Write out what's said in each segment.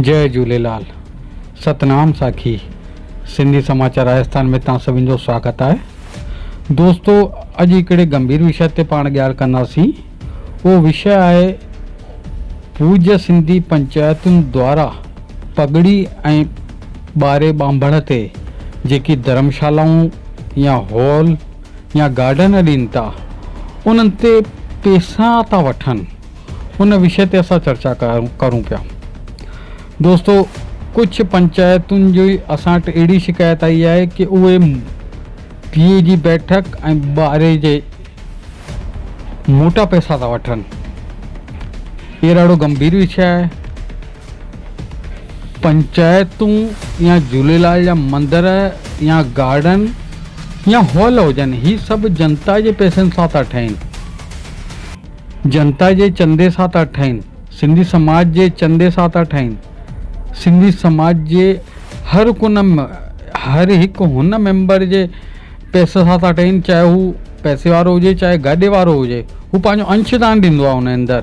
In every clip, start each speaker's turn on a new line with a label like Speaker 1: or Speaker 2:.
Speaker 1: جئ جھوليلال ستنام ساکي سنڌي سماچار راجستان ۾ توهان سڀن جو سواگت آهي دوستو اڄ هڪڙي گمڀير وشي تي پاڻ ڳالهه ڪنداسين اهو وشي آهي پوج سنڌي پنچايتن دوارا پگڙي ۽ ٻاري ٻانڀڻ تي جيڪي ڌرمشالائون يا هال يا گارڊن ڏين ٿا انهن تي پيسا ٿا وٺن ان وشي تي اسان چرچا ڪرون پيا دوستو ڪجهه پنچائتن جي اسان وٽ اهڙي شڪايت آئي آهي ڪي اهي ڌيء جي بيٺڪ ۽ ٻاري جي موٽا پيسا ٿا وٺن اهي ڏاڍو گنڀير وشي آهي پنچائتون يا جهوليلال جا مندر يا گارڊن يا هال هجن هي سڀ جنتا جي پئسن سان ٿا ٺهين جنتا جي چندي سان ٿا ٺهين سنڌي سماج جي چندي سان ٿا ٺهين سنڌي سماج جي هر ڪن هر هڪ هن ميمبر جي پئسي سان ٿا ٺهين چاهي هو پئسي وارو هجي چاهي گاڏي وارو هجي هو پنهنجو انش دان ڏيندو آهي ان اندر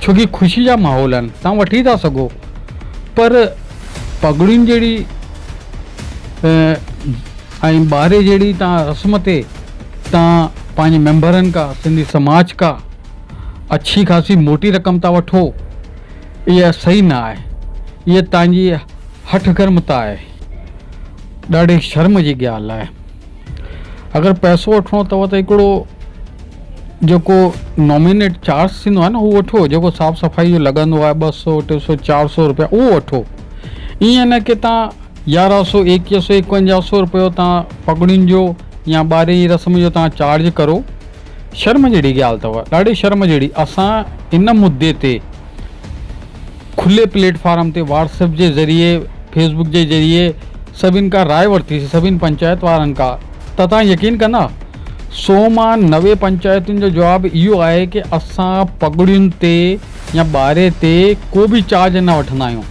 Speaker 1: ڇو ڪي خوشي جا ماحول آهن تهان وٺي ٿا سگهو پر پڳڙين جهڙي ۽ ٻاري جهڙي تهان رسم تي تهان پنهنجي ميمبرن کا سنڌي سماج کا اڇي خاصي موٽي رقم ٿا وٺو اها سهي نه آهي اها تهانجي هٺ گرمتا آهي ڏاڍي شرم جي ڳالهه آهي اگر پئسو وٺڻو اٿو ته هڪڙو جيڪو نامينيٽ چارج ٿيندو آهي نه اهو وٺو جيڪو صاف صفائي جو لڳندو آهي ٻه سو ٽي سو چار سو روپيا اهو وٺو ائين نه ڪي تان يارهن سو ايڪيهه سو ايڪونجاهه سو روپيو تان پڳڙين جو يا ٻارهين رسم جو تان چارج ڪرو شرم جهڙي ڳالهه اٿو، ڏاڍي شرم جهڙي، اسان ان مدي تي کلي پليٽ فارم تي واٽس ايپ جي ذريعي فيس بڪ جي ذريعي سڀن کان راء ورتي سي سڀني پنچائت وارن کان ته توهان يقين ڪندا سو مان نوي پنچائتن جو جواب اهو آهي ڪي اسان پڳڙين تي يا ٻاري تي ڪو به چارج نه وٺندا آهيون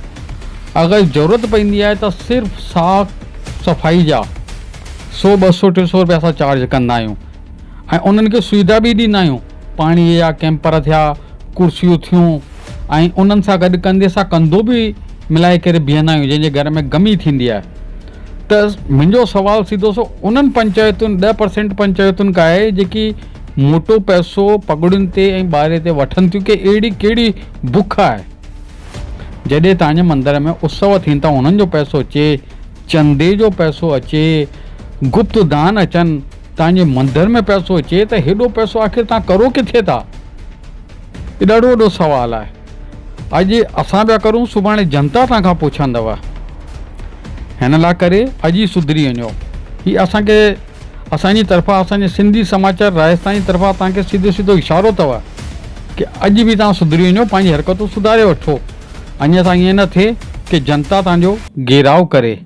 Speaker 1: اگر ضرورت پئندي آهي ته صرف صاف صفائي جا سو ٻه سو ٽي سو رپيا اسان چارج ڪندا آهيون. ۽ انهن کي سويڌا به ڏيندا آهيون، پاڻيء جا ڪيمپر ٿيا، ڪرسيون ٿيون ۽ انهن سان گڏ ڪنڌي سان ڪنڌو به ملائي ڪري بيهندا آهيون، جنهن جي گهر ۾ گمي ٿيندي آهي ته منهنجو سوال سيڌو سو انهن پنچائتن ڏهه پرسينٽ پنچائتن کان آهي جيڪي موٽو پئسو پڳڙين تي ۽ ٻاري تي وٺن ٿيون ڪي اهڙي ڪهڙي بک آهي جڏهن تانجي مندر ۾ اتسو ٿين ٿا انهن جو پئسو اچي چندي جو پئسو اچي گپت دان اچن توهان جي مندر ۾ پئسو اچي ته هيڏو پئسو آخر توهان ڪرو ڪٿي ٿا؟ هي ڏاڍو وڏو سوال آهي. اڄ اسان پيا ڪرون سڀاڻي جنتا توهان کان پڇندو. هن لا ڪري اڄ ئي سڌري وڃو. هي اسان کي اسان جي طرفان اسان جي سنڌي سماچار راجسٿان جي طرفان توهان کي سيڌو سيڌو اشارو اٿو ڪي اڄ به توهان سڌري وڃو پنهنجي حرڪتون سڌاري وٺو. اڃا تائين ائين نه ٿئي ڪي جنتا توهان جو گهيراء ڪري.